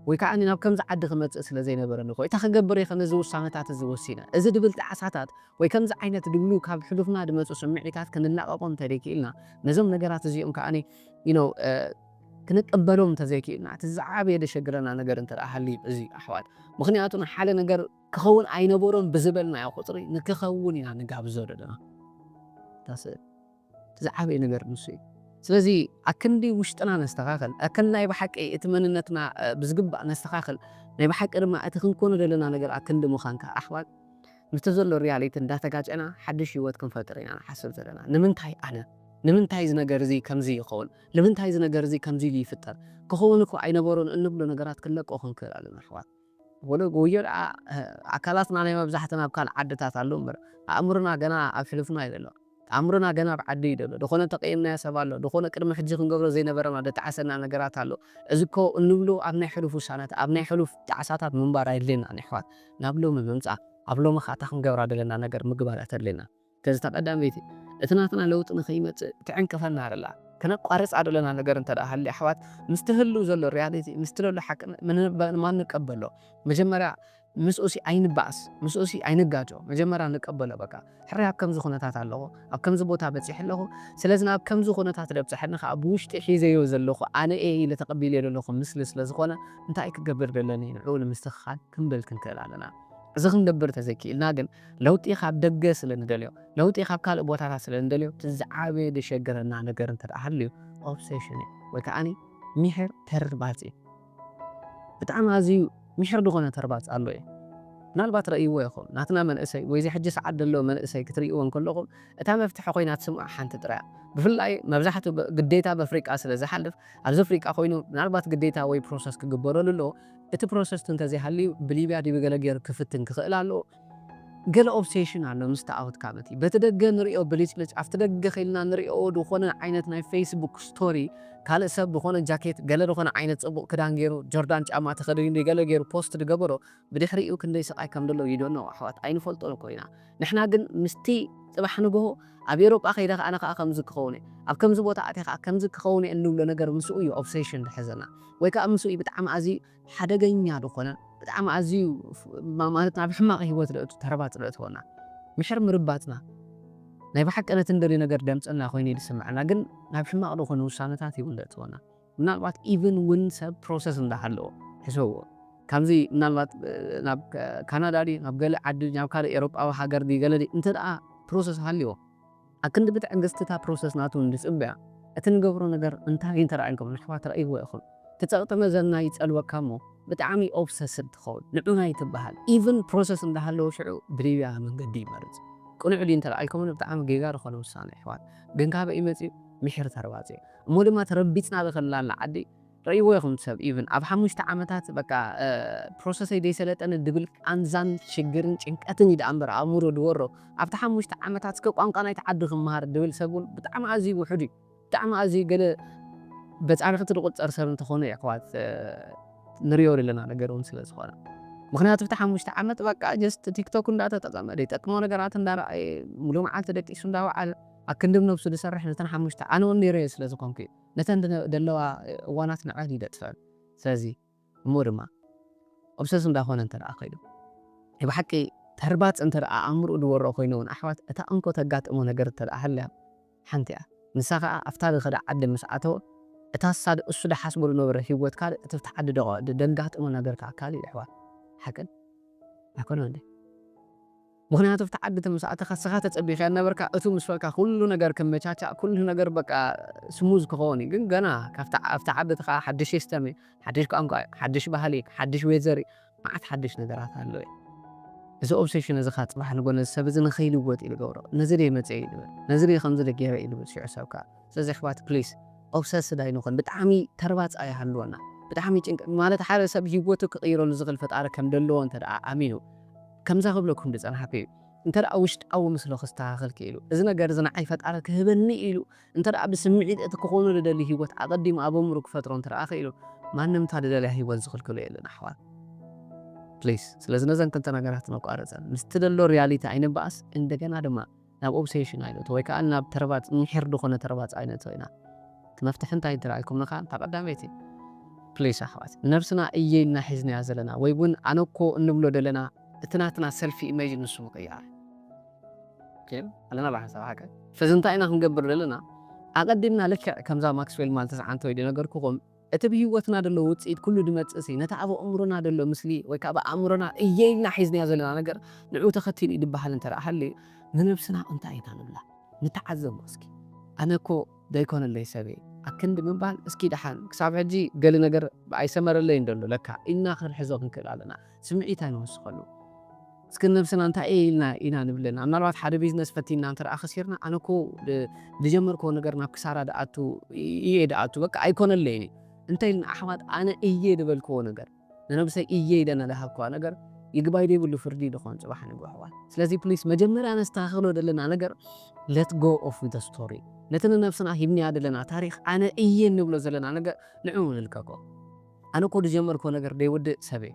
Speaker 1: ወይ ከኣ ናብ ከምዚ ዓዲ ክመጽእ ስለ ዘይነበረኒ እኮ ኢታ ክገብር ኢከ ነዚ ውሳነታት እዚ ወሲነ። እዚ ድብል ጣዕሳታት ወይ ከምዚ ዓይነት ድብሉ ካብ ሕሉፍና ድመጹ ስምዒታት ክንላቀቆም እንተ ዘይክኢልና ነዞም ነገራት እዚኦም ከኣ you know ክንቅበሎም እንተ ዘይክኢልና እቲ ዝዓበየ ደሸግረና ነገር እንተ ሃልዩ እዚ እዩ ኣሕዋት ምክንያቱ ንሓደ ነገር ክከውን ኣይነበሮን ብዝበልናዮ ቁጽሪ ንክከውን ኢና ንጋብዞ ደለና እታ ስእል ዝዓበየ ነገር ንሱ እዩ። ስለዚ ኣክንዲ ውሽጥና ነስተኻኽል፣ ኣክንዲ ናይ ብሓቂ እቲ መንነትና ብዝግባእ ነስተኻኽል፣ ናይ ብሓቂ ድማ እቲ ክንኮኖ ዘለና ነገር ኣክንዲ ምዃን ከኣ ኣሕዋት ምስቲ ዘሎ ሪያሊቲ እንዳተጋጨና ሓድሽ ህይወት ክንፈጥር ኢና ንሓስብ ዘለና። ንምንታይ ኣነ? ንምንታይ እዚ ነገር እዚ ከምዚ ይኸውን? ንምንታይ እዚ ነገር እዚ ከምዚ ኢሉ ይፍጠር? ክኸውን እኮ ኣይነበሮን እንብሎ ነገራት ክንለቆ ክንክእል ኣለና ኣሕዋት። ወደ ጎዮ ደኣ ኣካላትና ናይ መብዛሕትና ኣብ ካልእ ዓድታት ኣሎ እምበር ኣእምሮና ገና ኣብ ሕሉፍና እዩ ዘሎ። ኣእምሮና ገና ኣብ ዓዱ እዩ ዘሎ። ደኾነ ተቀይምናዮ ሰብ ኣሎ? ደኾነ ቅድሚ ሕጂ ክንገብሮ ዘይነበረና ደጣዓሰና ነገራት ኣሎ? እዚ እኮ እንብሎ ኣብ ናይ ሕሉፍ ውሳነታ ኣብ ናይ ሕሉፍ ጣዕሳታት ምንባር ኣይድልየናን የሕዋት። ናብ ሎሚ ምምጻእ ኣብ ሎምኻ እታ ክንገብራ ደለና ነገር ምግባር እያ ተድልየና። ከዚ እታ ቀዳመይቲ እቲ ናትና ለውጢ ንኸይመጽእ ትዕንቅፈና ደላ ከነቋርጻ ደለና ነገር እንተ ደኣ ሃልያ ኣሕዋት ምስቲ ህሉው ዘሎ ርያሊቲ ምስቲ ለሎ ሓቂ ንማ ንቀበሎ መጀመርያ ምስኡሲ ኣይንባኣስ ምስኡሲ ኣይንጋጮ መጀመርያ ንቀበሎ በቃ ሕራይ ኣብ ከምዚ ኩነታት ኣለኹ ኣብ ከምዚ ቦታ በጺሐ ኣለኹ ስለዚ ናብ ከምዚ ኩነታት ደብጸሐኒ ከኣ ብውሽጢ ሒዘዮ ዘለኹ ኣነ እየ ኢለ ተቀቢለዮ ደለኹ ምስሊ ስለ ዝኾነ እንታይ ክገብር ደለኒ ንዕኡ ንምስትኽኻል ክንብል ክንክእል ኣለና እዚ ክንገብር ተዘይኪኢልና ግን ለውጢ ካብ ደገ ስለ ንደልዮ፣ ለውጢ ካብ ካልእ ቦታታት ስለ ንደልዮ፣ እቲ ዝዓበየ ዘሸግረና ነገር እንተ ደኣ ሃልዩ ኦብሰሽን እዩ ወይ ከኣ ሚሒር ተርባጽ እዩ። ብጣዕሚ ኣዝዩ ሚሒር ዝኾነ ተርባጽ ኣሎ እዩ። ምናልባት ረእይዎ ኢኹም፣ ናትና መንእሰይ ወይ እዚ ሕጂ ሰዓት ደሎ መንእሰይ ክትርእይዎ እንከለኹም እታ መፍትሒ ኮይና ትስምዖ ሓንቲ ጥራይ እያ። ብፍላይ መብዛሕትኡ ግዴታ በፍሪቃ ስለ ዝሓልፍ ኣብዚ ፍሪቃ ኮይኑ ምናልባት ግዴታ ወይ ፕሮሰስ ክግበረሉ ኣለዎ፣ እቲ ፕሮሰስት እንተዘይሃልዩ ብሊብያ ዲቢ ገለ ገይሩ ክፍትን ክኽእል ኣለዎ ገለ ኦብሴሽን ኣሎ ምስ ተኣውትካ በቲ በቲ ደገ ንሪኦ ብሊጭልጭ ኣብቲ ደገ ኬንና ንሪኦ ድኾነ ዓይነት ናይ ፈይስ ቡክ ስቶሪ ካልእ ሰብ ድኾነ ጃኬት ገለ ድኾነ ዓይነት ጽቡቕ ክዳን ገይሩ ጆርዳን ጫማ ተኸዲኑ ዲገለ ገይሩ ፖስት ድገበሮ ብድሕሪኡ ክንደይ ስቓይ ከምደሎ ዩ ዶኖ ኣሕዋት ኣይንፈልጦን እኮ ኢና ንሕና ግን ምስቲ ጽባሕ ንግሆ ኣብ ኤሮጳ ከይደ ኣነ ከኣ ከምዚ ክኸውን እየ ኣብ ከምዚ ቦታ ኣትየ ከኣ ከምዚ ክኸውን እየ እንብሎ ነገር ምስኡ እዩ ኦብሰሽን ዝሕዘና ወይ ከኣ ምስኡ እዩ ብጣዕሚ ኣዝዩ ሓደገኛ ዝኾነ ብጣዕሚ ኣዝዩ ማለት ናብ ሕማቕ ሂወት ዘእቱ ተረባጽ ዘእትወና ምሕር ምርባጽና ናይ ብሓቂ ነቲ እንደልዮ ነገር ደምጽና ኮይኑ እዩ ዝስምዓና ግን ናብ ሕማቕ ዝኾነ ውሳነታት እዩ እውን ዘእትወና። ምናልባት ኢቭን ውን ሰብ ፕሮሰስ እንዳሃለዎ ሕሰብዎ ካምዚ ምናልባት ናብ ካናዳ ድዩ ናብ ገለ ዓዲ ድዩ ናብ ካልእ ኤሮጳዊ ሃገር ድዩ ገለ ድዩ እንተ ፕሮሰስ ሃልይዎ ኣብ ክንዲ ብትዕግስቲ እታ ፕሮሰስ ናቱ እንጽበያ እቲ ንገብሮ ነገር እንታይ እንተ ኢልኩም ንኣሕዋት ረኣይዎ ኢኹም እቲ ጸቕጢ መዘና ይጸልወካ እሞ ብጣዕሚ ኦብሰስድ ትኸውን ንዑና ኣይትበሃል ኢቭን ፕሮሰስ እንዳሃለዎ ሽዑ ብሊብያ መንገዲ ይመርጽ ቅኑዕ ድዩ እንተ ኢልኩምኒ ብጣዕሚ ጌጋ ዝኾነ ውሳነ ኣሕዋት ግን ካበይ እዩ መጺኡ ምሒር ተርባጽ እዩ። እሞ ድማ ተረቢጽና ዝኸለላና ዓዲ ረእይዎ ኢኹም ሰብ ኢቭን ኣብ ሓሙሽተ ዓመታት በቃ ፕሮሰሰይ ዘይሰለጠኒ ድብል ቃንዛን ሽግርን ጭንቀትን እዩ ደኣምበር ኣእምሮ ድወሮ ኣብቲ ሓሙሽተ ዓመታት እስከ ቋንቋ ናይቲ ዓዲ ክመሃር ድብል ሰብ ውን ብጣዕሚ ኣዝዩ ውሑድ እዩ ብጣዕሚ ኣዝዩ ገለ በጻርቕቲ ድቑጸር ሰብ እንተኾነ የሕዋት ንርእዮ ደለና ነገር ውን ስለ ዝኾነ ምኽንያቱ ኣብቲ ሓሙሽተ ዓመት በቃ ጀስት ቲክቶክ እንዳተጠቐመ ደይጠቅሞ ነገራት እንዳረኣየ ሙሉእ መዓልቲ ደቂሱ እንዳወዓለ ኣክንዲ ብነብሱ ዝሰርሕ ነተን ሓሙሽተ ኣነ ውን ነይረዮ ስለ ዝኮንኩ ነተን ደለዋ እዋናት ንዐን እዩ ደጥፈኣን ስለዚ እሞ ድማ ኦብሰስ እንዳ ኮነ እንተ ከይዱ ናይ ብሓቂ ተርባጽ እንተ ኣእምርኡ ዝወሮ ኮይኑ ውን ኣሕዋት እታ እንኮ ተጋጥሞ ነገር እንተ ሃልያ ሓንቲ እያ ንሳ ከኣ ኣብታ ዝከዳ ዓዲ ምስ ኣተወ እታ ሳድ እሱ ዝሓስቦ ዝነበረ ሂወት ካልእ እቲ ኣብቲ ዓዲ ደጋጥሞ ነገር ከኣ ካልእ እዩ ኣሕዋት ሓቅን ኣይኮነን እንዴ። ምኽንያቱ ኣብቲ ዓዲ ተምስ ኣተኻ እስኻ ተጸቢኻያ ዝነበርካ እቱ ምስ በልካ ኩሉ ነገር ክመቻቻእ ኩሉ ነገር በቃ ስሙዝ ክኸውን እዩ ግን ገና ካብቲ ኣብቲ ዓዲ እትኻ ሓዱሽ ሲስተም እዩ ሓዱሽ ቋንቋ እዩ ሓዱሽ ባህሊ እዩ ሓዱሽ ዌዘር እዩ መዓት ሓዱሽ ነገራት ኣሎ እዩ እዚ ኦብሰሽን እዚ ከኣ ጽባሕ ንጎ ነዚ ሰብ እዚ ንኸይልወጥ እዩ ዝገብሮ ነዚ ድየ መጽየ እዩ ዝብል ነዚ ድየ ከምዚ ድየ ገይረ እዩ ዝብል ሽዑ ሰብ ከኣ ስለዚ ኣሕዋት ፕሊስ ኦብሰስድ ኣይንኹን ብጣዕሚ ተርባጽ ኣይሃልወና ብጣዕሚ ጭንቀት ማለት ሓደ ሰብ ሂወቱ ክቕይረሉ ዝኽእል ፈጣሪ ከም ዘለዎ እንተ ደኣ ኣሚኑ ከምዛ ክብለኩም ዝጸናሕኩ እዩ እንተ ውሽጣዊ ምስሎ ክስተኻኸል ክኢሉ እዚ ነገር እዚ ንዓይ ፈጣሪ ክህበኒ ኢሉ እንተ ብስምዒት እቲ ክኾኖ ዝደሊ ሂወት ኣቐዲሙ ኣብ ኣእምርኡ ክፈጥሮ እንተ ክኢሉ ማንም እታ ዝደልያ ሂወት ዝኽልክሎ የለን ኣሕዋት ፕሊስ ስለዚ ነዘን ክልተ ነገራት ነቋርጸን ምስ ትደሎ ርያሊቲ ኣይንበኣስ እንደገና ድማ ናብ ኦብሰሽን ኣይነእቶ ወይ ከኣ ናብ ተረባጽ ምሒር ድኾነ ተረባጽ ኣይነእቶ ኢና እቲ መፍትሒ እንታይ እንተልኣልኩምኒ ከኣ እታ ቀዳመይቲ ፕሊስ ኣሕዋት ንነብስና እየ ኢልና ሒዝናያ ዘለና ወይ ውን ኣነ እኮ እንብሎ ደለና እቲ ናትና ሰልፊ ኢመጅ ንሱ ምቅያር ኦኬ ኣለና ብሓንሳብ ሓቀ ስለዚ እንታይ ኢና ክንገብር ደለና ኣቀዲምና ልክዕ ከምዛ ማክስዌል ማልተስ ዓንተ ወይ ድነገርኩኹም እቲ ብህይወትና ደሎ ውጽኢት ኩሉ ድመጽእሲ፣ ነቲ ኣብ ኣእምሮና ደሎ ምስሊ ወይ ከኣ ብኣእምሮና እየ ኢልና ሒዝናዮ ዘለና ነገር ንዕኡ ተኸቲሉ እዩ ድበሃል እንተ ደኣ ሃልዩ፣ ንነብስና እንታይ ኢና ንብላ? ንተዓዘቦ እስኪ። ኣነ እኮ ዘይኮነለይ ሰብ እየ ኣብ ክንዲ ምባል፣ እስኪ ደሓን ክሳብ ሕጂ ገለ ነገር ኣይሰመረለይን ደሎ ለካ ኢልና ክንሕዞ ክንክእል ኣለና። ስምዒት ኣይንውስኸሉ። እስኪ ንነብስና እንታይ እየ ኢልና ኢና ንብለና፣ ምናልባት ሓደ ቢዝነስ ፈቲንና እንተደኣ ከሲርና፣ ኣነ እኮ ዝጀመርክዎ ነገር ናብ ክሳራ ድኣቱ እየ ድኣቱ በቃ ኣይኮነለይን እዩ እንተኢልና፣ ኣሕዋት ኣነ እየ ድበልክዎ ነገር፣ ንነብሰይ እየ ኢለ ንደሃብክዋ ነገር ይግባይ ዘይብሉ ፍርዲ እዩ ድኾን ጽባሕ ንግሆ ኣሕዋት። ስለዚ ፕሊስ መጀመርያ ነስተኻኽሎ ደለና ነገር let go of the story ነቲ ንነብስና ሂብንያ ደለና ታሪኽ ኣነ እየ እንብሎ ዘለና ነገር ንዕኡ ንልቀቆ። ኣነ እኮ ዝጀመርክዎ ነገር ዘይውድእ ሰብ እየ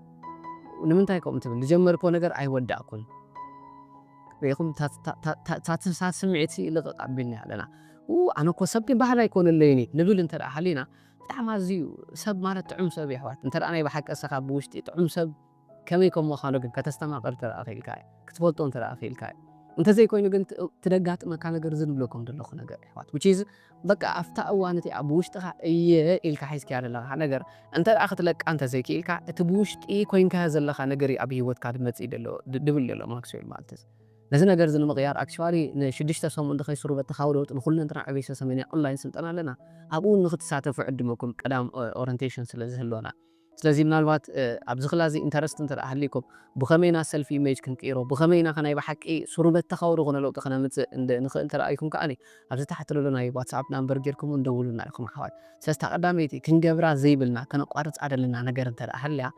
Speaker 1: ንምንታይ ከምኡ ትብል ዝጀመርክዎ ነገር ኣይወዳእኩን ሪኢኹም እታ ስምዒት ልቕቕ ኣቢልና ኣለና ኡኡ ኣነ እኮ ሰብ ግን ባህሊ ኣይኮነለይን እዩ ንብል እንተ ሃሊና ብጣዕሚ ኣዝዩ ሰብ ማለት ጥዑም ሰብ እዩ ኣሕዋት እንተ ናይ ብሓቂ ንስኻ ብውሽጢ ጥዑም ሰብ ከመይ ከም ምዃኑ ግን ከተስተማቕር እንተደኣ ክኢልካ እዩ። ክትፈልጦ እንተደኣ ክኢልካ እዩ። እንተዘይኮይኑ ግን እቲ ደጋጥመካ ነገር እዚ ዝብለኩም ዘለኹ ነገር የሕዋት which is በቃ ኣብታ እዋን እቲኣ ብውሽጥኻ እየ ኢልካ ሒዝካያ ዘለኻ ነገር እንተደኣ ክትለቃ እንተዘይክኢልካ እቲ ብውሽጢ ኮይንካዮ ዘለኻ ነገር እዩ ኣብ ሂወትካ ዝመጽእ ዘሎ ዝብል ዘሎ ማክስዌል ማልትዝ። ነዚ ነገር እዚ ንምቕያር actually ንሽዱሽተ ሰሙን ተኸይስሩ በቲ ካውደውጥ ንኹለንትና ዕቤሰ ሰሜን የቕላይን ስልጠና ኣለና ኣብኡ ንኽትሳተፉ እዕድመኩም ቀዳም ኦረንቴሽን ስለዝህልወና። ስለዚ ምናልባት ኣብዚ ክላ እዚ ኢንተረስት እንተ ሃልይኩም ብኸመይ ኢና ሰልፍ ኢሜጅ ክንቅይሮ ብኸመይ ኢና ከ ናይ ብሓቂ ስሩመት ተካዊ ዝኾነ ለውጢ ከነምጽእ እንደ ንኽእል እንተ ርኣይኩም ከኣ ኣብዚ ታሕቲ ለሎ ናይ ዋትስኣፕ ናምበር ጌርኩም ውን ደውሉልና ኢኹም ኣሕዋት ስለዚ እታ ቀዳመይቲ ክንገብራ ዘይብልና ከነቋርጻ ደለና ነገር እንተ ሃልያ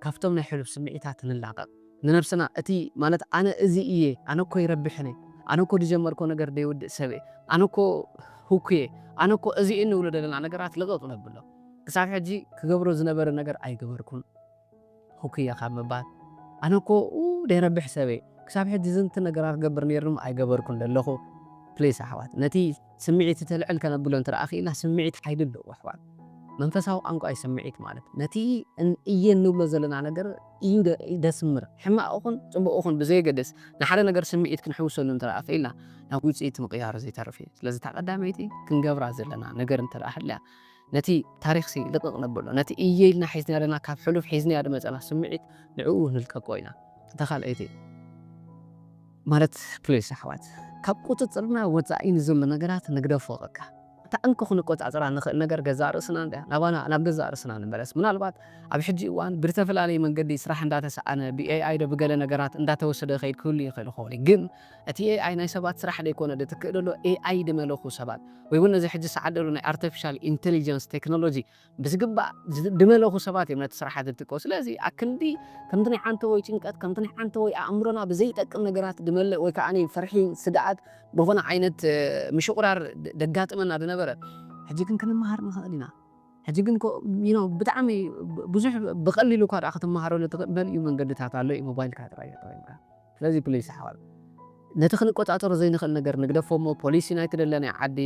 Speaker 1: ካብቶም ናይ ሕሉፍ ስምዒታት ንላቐቕ ንነብስና እቲ ማለት ኣነ እዚ እየ ኣነ እኮ ይረብሕን እየ ኣነ እኮ ድጀመርኮ ነገር ደይውድእ ሰብ እየ ኣነ እኮ ህኩ እየ ኣነ እኮ እዚ እንብሎ ደለና ነገራት ልቕቕ ነብሎ። ክሳብ ሕጂ ክገብሮ ዝነበረ ነገር ኣይገበርኩን ሁኩየ ካብ ምባል ኣነ እኮ ደይረብሕ ሰበይ ክሳብ ሕጂ ዝንት ነገራ ክገብር ነይርም ኣይገበርኩን ደለኹ ፕሊስ ኣሕዋት ነቲ ስሚዒት ተልዕል ከነብሎ እንተ ክኢልና ስሚዒት ሓይሊ ኣለዎ ኣሕዋት መንፈሳዊ ቛንቋ እዩ ስሚዒት ማለት ነቲ እየ እንብሎ ዘለና ነገር እዩ ደስምር ሕማቅ እኹን ጽቡቅ እኹን ብዘየገድስ ንሓደ ነገር ስሚዒት ክንሕውሰሉ እንተ ክኢልና ናብ ውጽኢት ምቅያሩ ዘይተርፍ እዩ ስለዚ እታ ቀዳመይቲ ክንገብራ ዘለና ነገር እንተ ሃልያ ነቲ ታሪኽሲ ልቕቕ ነብሎ፣ ነቲ እየ ኢልና ሒዝናዮ ዘለና ካብ ሕሉፍ ሒዝናዮ ዝመጸና ስምዒት ንዕኡ ንልቀቆ ኢና። እታ ካልኣይቲ ማለት ፕሊስ ኣሕዋት ካብ ቁጽጽርና ወጻኢ ንዘሎ ነገራት ንግደፎ በቃ። እታ እንኮ ክንቆጻጸራ ንኽእል ነገር ገዛእ ርእስና እንድያ። ናባና ናብ ገዛእ ርእስና ንመለስ። ምናልባት ኣብ ሕጂ እዋን ብዝተፈላለየ መንገዲ ስራሕ እንዳተሳኣነ ብኤኣይ ዶ ብገለ ነገራት እንዳተወሰደ ይኸይድ ክህሉ ይኽእል ይኸውን እዩ ግን፣ እቲ ኤኣይ ናይ ሰባት ስራሕ ደይኮነ ድትክእ ደሎ ኤኣይ ድመለኩ ሰባት ወይ ውን ነዚ ሕጂ ሰዓት ደሎ ናይ ኣርተፊሻል ኢንተሊጀንስ ቴክኖሎጂ ብዝግባእ ድመለኩ ሰባት እዮም ነቲ ስራሓት ድትክኡ ስለዚ ኣክንዲ ከምቲ ናይ ዓንተቦይ ጭንቀት ከምቲ ናይ ዓንተቦይ ኣእምሮና ብዘይጠቅም ነገራት ድመልእ ወይ ከኣ ፍርሒ ስግኣት ብኮነ ዓይነት ምሽቁራር ደጋጥመና ድነበረ ሕጂ ግን ክንመሃር ንክእል ኢና ሕጂ ግን እኮ ዩኖ ብጣዕሚ ብዙሕ ብቀሊሉ እኳ ክትመሃረሉ ትክእል መሊኡ መንገድታት ኣሎ እዩ ሞባይልካ ጥራይ ተጠቂምካ። ስለዚ ፕሊስ ኣሕዋት ነቲ ክንቆጻጸሮ ዘይንኽእል ነገር ንግደፎ እሞ ፖሊሲ ናይቲ ደለናዮ ዓዲ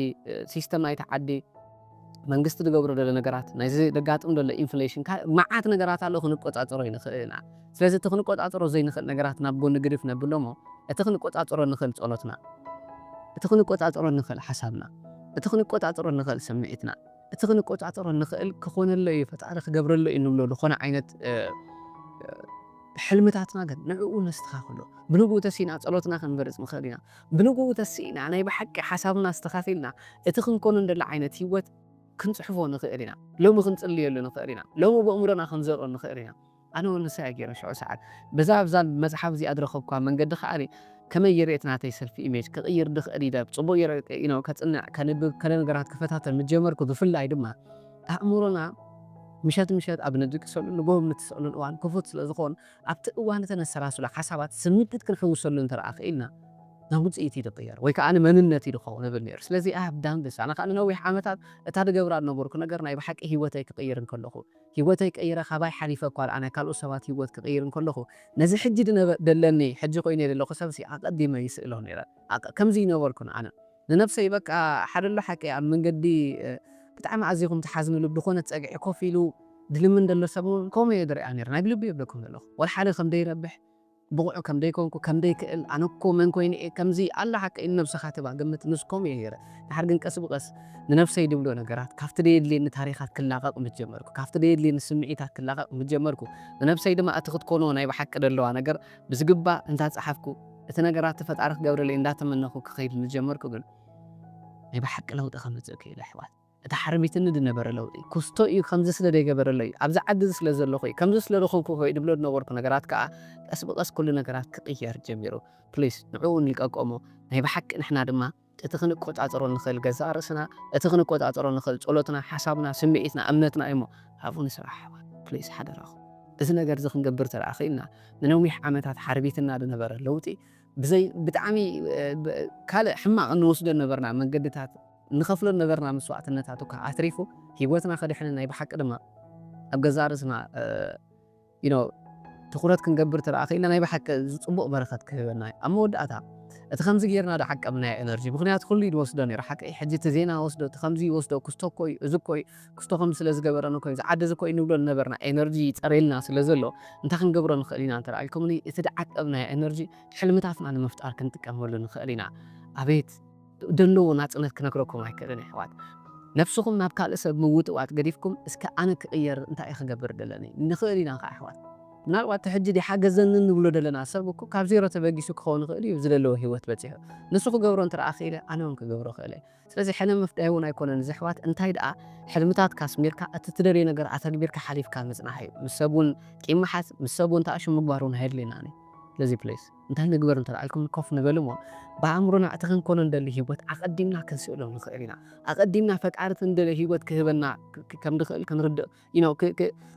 Speaker 1: ሲስተም ናይቲ ዓዲ መንግስቲ ዝገብሮ ዘሎ ነገራት ናይዚ ዘጋጥም ዘሎ ኢንፍሌሽን ካልእ መዓት ነገራት ኣሎ ክንቆጻጸሮ ኣይንኽእልን ኢና ስለዚ እቲ ክንቆጻጸሮ ዘይንኽእል ነገራት ናብ ጎኒ ግድፍ ነብሎ እሞ እቲ ክንቆጻጸሮ እንኽእል ጸሎትና እቲ ክንቆጻጸሮ እንኽእል ሓሳብና እቲ ክንቆጻጸሮ እንኽእል ስምዒትና እቲ ክንቆጻጸሮ እንኽእል ክኾነሎ እዩ ፈጣሪ ክገብረሎ እዩ እንብሎ ዝኾነ ዓይነት ሕልምታትና ግን ንዕኡ ነስተኻኽሎ ብንግኡ ተሲእና ጸሎትና ክንመርጽ ንኽእል ኢና ብንግኡ ተሲእና ናይ ብሓቂ ሓሳብና ኣስተኻኺልና እቲ ክንኮኖ እንደሊ ዓይነት ሂወት ክንጽሕፎ ንኽእል ኢና ሎሚ ክንጽልየሉ ንኽእል ኢና ሎሚ በእምሮና ክንዘርኦ ንኽእል ኢና። ኣነ እውን ንሳ እየ ገይረ ሽዑ ሰዓት። በዛ ኣብዛ መጽሓፍ እዚኣ ዝረኸብኩዋ መንገዲ ከኣ ከመይ ገይረ እቲ ናተይ ሰልፍ ኢሜጅ ክቕይር ዝኽእል ኢለ ብጽቡቕ ገይረ ከጽንዕ፣ ከንብብ፣ ገለ ነገራት ክፈታተን ምስ ጀመርኩ ብፍላይ ድማ ኣእምሮና ምሸት ምሸት ኣብ ንድቅሰሉን ንግሆ ኣብ ንትስእሉን እዋን ክፉት ስለ ዝኸውን ኣብቲ እዋን እቲ ነሰላስሎ ሓሳባት ስምዒት ክንሕውሰሉ እንተ ደኣ ክኢልና ናብ ውጽኢት እዩ ዝቕየር ወይ ከኣ መንነት እዩ ዝኸውን እብል ነይረ። ስለዚ ኣይ ሃቭ ዳን ዚስ። ኣነ ከኣ ንነዊሕ ዓመታት እታ ዝገብራ ዝነበርኩ ነገር ናይ ብሓቂ ህይወተይ ክቕይር እንከለኹ፣ ሂወተይ ቀይረ ካባይ ሓሊፈ እኳ ድኣ ናይ ካልኦት ሰባት ሂወት ክቅይር እንከለኹ ነዚ ሕጂ ድነበ ደለኒ ሕጂ ኮይነዮ ደለኹ ሰብሲ ኣቀዲመ ይስእሎ ኔረ ኣቅ ከምዚ ኣይነበርኩን ኣነ ንነብሰይ በቃ ሓደ ኣሎ ሓቂ ኣብ መንገዲ ብጣዕሚ ኣዚኹም ትሓዝንሉ ብድኾነት ጸግዒ ኮፍ ኢሉ ድልምን ደሎ ሰብ ውን ከምኡ እየ ድርኣ ኔረ ናይ ብልበይ እየ ብለኩም ደለኹ ወላ ሓደ ከም ደይ ረብሕ ብቑዕ ከም ደይኮንኩ፣ ከም ደይክእል፣ ኣነ እኮ መን ኮይነ እየ ከምዚ ኣላ ሓቀይ ንነብሰኻ ትባ ግምት ምስ ከምኡ እየ ገይረ ድሓር ግን ቀስ ብቐስ ንነብሰይ ድብሎ ነገራት ካብቲ ደየድልየኒ ታሪኻት ክላቐቕ ምስ ጀመርኩ ካብቲ ደየድልየኒ ስምዒታት ክላቐቕ ምስ ጀመርኩ ንነብሰይ ድማ እቲ ክትኮኖ ናይ ብሓቂ ደለዋ ነገር ብዝግባእ እንዳ ጸሓፍኩ እቲ ነገራቲ ፈጣሪ ክገብረለይ እንዳ ተመነኹ ክኸይድ ምስ ጀመርኩ ግን ናይ ብሓቂ ለውጢ ከምጽእ ክኢለ ኣሕዋት። እቲ ሓርቢትኒ ድነበረ ለውጢ ኩስቶ እዩ፣ ከምዚ ስለ ደይገበረለይ እዩ፣ ኣብዚ ዓዲ እዚ ስለ ዘለኹ እዩ፣ ከምዚ ስለ ደኾንኩ እኮ እዩ ድብሎ ድነበርኩ ነገራት ከኣ ቀስ ብቐስ ኩሉ ነገራት ክቕየር ጀሚሩ። ፕሊስ ንዕኡ ንልቀቆ እሞ ናይ ብሓቂ ንሕና ድማ እቲ ክንቆጻጸሮ እንኽእል ገዛእ ርእስና፣ እቲ ክንቆጻጸሮ እንኽእል ጸሎትና፣ ሓሳብና፣ ስምዒትና፣ እምነትና እዩ እሞ ኣብኡ ንስራሕ ኣሕዋት ፕሊስ ሓደራኹም። እዚ ነገር እዚ ክንገብር እንተ ደኣ ክኢልና ንነዊሕ ዓመታት ሓርቢትና ድነበረ ለውጢ ብዘይ ብጣዕሚ ካልእ ሕማቕ እንወስዶ ድነበርና መንገድታት፣ እንኸፍሎ ዝነበርና መስዋእትነታት እኳ ኣትሪፉ ህይወትና ከድሕንን ናይ ብሓቂ ድማ ኣብ ገዛእ ርእስና you know ትኹረት ክንገብር እንተ ክኢልና ናይ ብሓቂ እዚ ጽቡቕ በረኸት ክህበና እዩ። ኣብ መወዳእታ እቲ ከምዚ ጌርና ዶ ዓቀብናዮ ኤነርጂ ምኽንያቱ ኩሉ እዩ ዝወስዶ ነይሩ ሓቂ እዩ ሕጂ እቲ ዜና ወስዶ እቲ ከምዚ ይወስዶ ክስቶ እኮ እዩ እዚ እኮ እዩ ክስቶ ከምዚ ስለ ዝገበረን እኮ እዩ እዚ ዓዲ እዚ እኮ እዩ ንብሎ ዝነበርና ኤነርጂ ይጸርየልና ስለ ዘሎ እንታይ ክንገብሮ ንኽእል ኢና እንተ ኢልኩምኒ እቲ ዝዓቀብናዮ ኤነርጂ ሕልምታትና ንምፍጣር ክንጥቀመሉ ንኽእል ኢና ኣቤት ደለዎ ናጽነት ክነግረኩም ኣይክእልን የሕዋት ነብስኹም ናብ ካልእ ሰብ ምውጥዋጥ ገዲፍኩም እስከ ኣነ ክቅየር እንታይ እየ ክገብር ደለኒ ንኽእል ኢና ከኣ የሕዋት ምናልባት እቲ ሕጂ ዲሓገዘኒ ንብሎ ደለና ሰብ እኮ ካብ ዜሮ ተበጊሱ ክኸውን ይኽእል እዩ ዝደለዎ ሂወት በጺሑ ንሱ ክገብሮ እንትርኣ ክኢለ ኣነ ውን ክገብሮ ክእል እየ ስለዚ ሕነ ምፍዳይ ውን ኣይኮነን እዚ የሕዋት እንታይ ድኣ ሕልምታትካ ኣስሚርካ እቲ ትደልዮ ነገር ኣተግቢርካ ሓሊፍካ ምጽናሕ እዩ ምስ ሰብ ውን ቂም ምሓዝ ምስ ሰብ ውን ተኣሹ ምግባር ውን ኣየድልየናን እዩ ስለዚ please እንታይ ንግበር እንተ ኢልኩም ኮፍ ንበል እሞ ብኣእምሮና እቲ ክንኮኖ እንደሊ ህይወት ኣቐዲምና ክንስእሎ ንኽእል ኢና። ኣቐዲምና ፈጣሪ እቲ እንደልዮ ህይወት ክህበና ከም ድኽእል ክንርድእ you know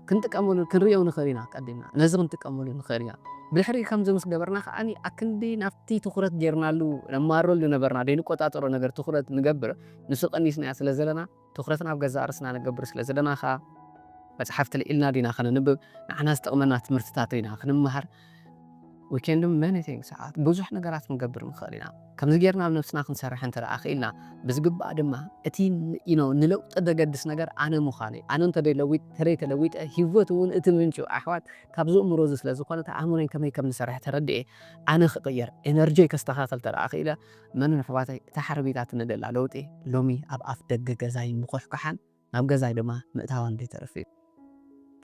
Speaker 1: ክንጥቀመሉ ክንርእዮ ንኽእል ኢና ኣቐዲምና ነዚ ክንጥቀመሉ ንኽእል ኢና። ብድሕሪኡ ከምዚ ምስ ገበርና ከኣ ኣክንዲ ናብቲ ትኹረት ጌርናሉ ነማርረሉ ነበርና ደይንቆጻጸሮ ነገር ትኹረት ንገብር ንሱ ቀኒስናዮ ስለ ዘለና፣ ትኹረት ናብ ገዛእ ርእስና ንገብር ስለ ዘለና ኸኣ፣ መጽሓፍቲ ልዒልና ዲና ከነንብብ፣ ንዓና ዝጠቕመና ትምህርትታት ዲና ክንመሃር፣ we can do many things፣ ብዙሕ ነገራት ክንገብር ንኽእል ኢና። ከምዚ ጌርና ኣብ ነብስና ክንሰርሕ እንተ ደኣ ክኢልና፣ ብዝግባእ ድማ እቲ you know ንለውጢ ዘገድስ ነገር ኣነ ምዃነይ፣ ኣነ እንተ ደይለዊጥ፣ እንተ ደይተለዊጠ፣ ህይወት እውን እቲ ምንጩ ኣሕዋት ካብዚ እምሮ እዚ ስለ ዝኾነት፣ ኣእምሮይ ከመይ ከም ዝሰርሕ ተረዲኤ ኣነ ክቕየር፣ ኤነርጂይ ከስተኻኽል እንተ ደኣ ክኢለ፣ መን ኣሕዋተይ እታ ሓረጊታ ትነደላ ለውጢ ሎሚ ኣብ ኣፍ ደገ ገዛይ ምኩሕኳሓን ናብ ገዛይ ድማ ምእታዋን ዘይተርፍ እዩ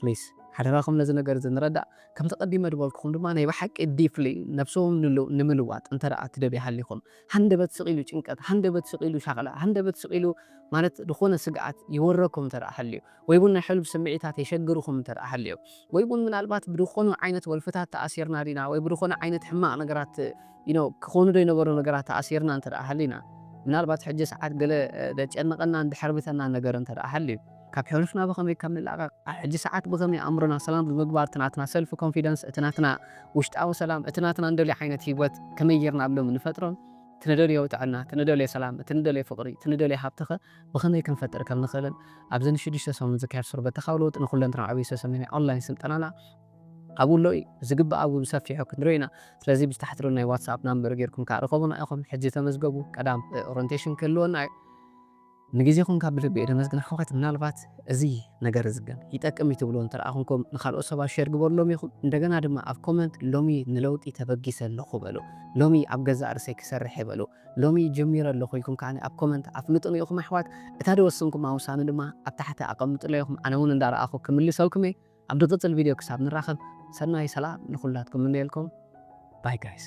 Speaker 1: please ሓደራኹም ነዚ ነገር እዚ ንረዳእ ከምቲ ቀዲመ ድበልኩኹም ድማ ናይ ብሓቂ deeply ነብስኹም ንምልዋጥ እንተ ትደልዩ ሃሊኹም ሃንደበት ስቅ ኢሉ ጭንቀት ሃንደበት ስቅ ኢሉ ሻቅላ ሃንደበት ስቅ ኢሉ ማለት ድኾነ ስግኣት ይወረኩም እንተ ሃልዩ ወይ'ውን ናይ ሕሉፍ ስምዒታት የሸግርኩም እንተድኣ ሃልዮ፣ ወይ'ውን ምናልባት ብድኾኑ ዓይነት ወልፍታት ተኣሲርና ዲና ወይ ብድኾነ ዓይነት ሕማቕ ነገራት you know ክኾኑ'ዶ ይነበሩ ነገራት ተኣሲርና እንተድኣ ሃሊና፣ ምናልባት ሕጂ ሰዓት ገለ ደጨንቐናን ደሕርብተናን ነገር እንተድኣ ሃልዩ፣ ካብ ሕሉፍና ብኸመይ ከም ንላቐቕ፣ ኣብ ሕጂ ሰዓት ብኸመይ ኣእምሮና ሰላም ብምግባር እቲ ናትና ሰልፍ ኮንፊደንስ፣ እቲ ናትና ውሽጣዊ ሰላም፣ እቲ ናትና እንደልዮ ዓይነት ህይወት ከመይ ጌርና ኣብ ሎሚ ንፈጥሮን፣ እቲ ንደልዮ ጥዕና፣ እቲ ንደልዮ ሰላም፣ እቲ ንደልዮ ፍቕሪ፣ እቲ ንደልዮ ሃብቲ'ኸ፣ ብኸመይ ክንፈጥር ከም ንኽእልን ኣብዚ ንሽዱሽተ ሰሙን ዝካየድ ሱር በተኻዊ ለውጢ ንኹለንትናዊ ዕብይ ዝተሰምየ ናይ ኦንላይን ስልጠናና ኣብኡ ኣሎ እዩ። ብዝግባእ ኣብኡ ብሰፊሑ ክንሪኦ ኢና። ስለዚ ብዚ ታሕቲ ዘሎ ናይ ዋትስኣፕ ናምበር ጌርኩም ከኣ ርኸቡና ኢኹም። ሕጂ ተመዝገቡ። ቀዳም ኦረንቴሽን ክህልወና እዩ። ንግዜኹም ካብ ብልቢ እየ ደመስግን ኣሕዋት። ምናልባት እዚ ነገር እዚ ግን ይጠቅም እዩ ትብልዎ እንተ ደኣ ኩንኩም ንኻልኦት ሰባት ሼር ግበርሎም ኢኹም። እንደገና ድማ ኣብ ኮመንት ሎሚ ንለውጢ ተበጊሰ ኣለኹ በሉ። ሎሚ ኣብ ገዛእ ርእሰይ ክሰርሕ እየ በሉ። ሎሚ ጀሚረ ኣለኹ ኢልኩም ከኣ ኣብ ኮመንት ኣፍልጡኒ ኢኹም ኣሕዋት እታ ደወሰንኩማ ውሳነ ድማ ኣብ ታሕቲ ኣቀምጡለይ ኢኹም ኣነ ውን እንዳ ረኣኹ ክምልሰልኩም እየ ኣብ ድቅጽል ቪድዮ ክሳብ ንራኸብ ሰናይ ሰላም ንኹላትኩም ምነየልኩም ባይ ጋይስ።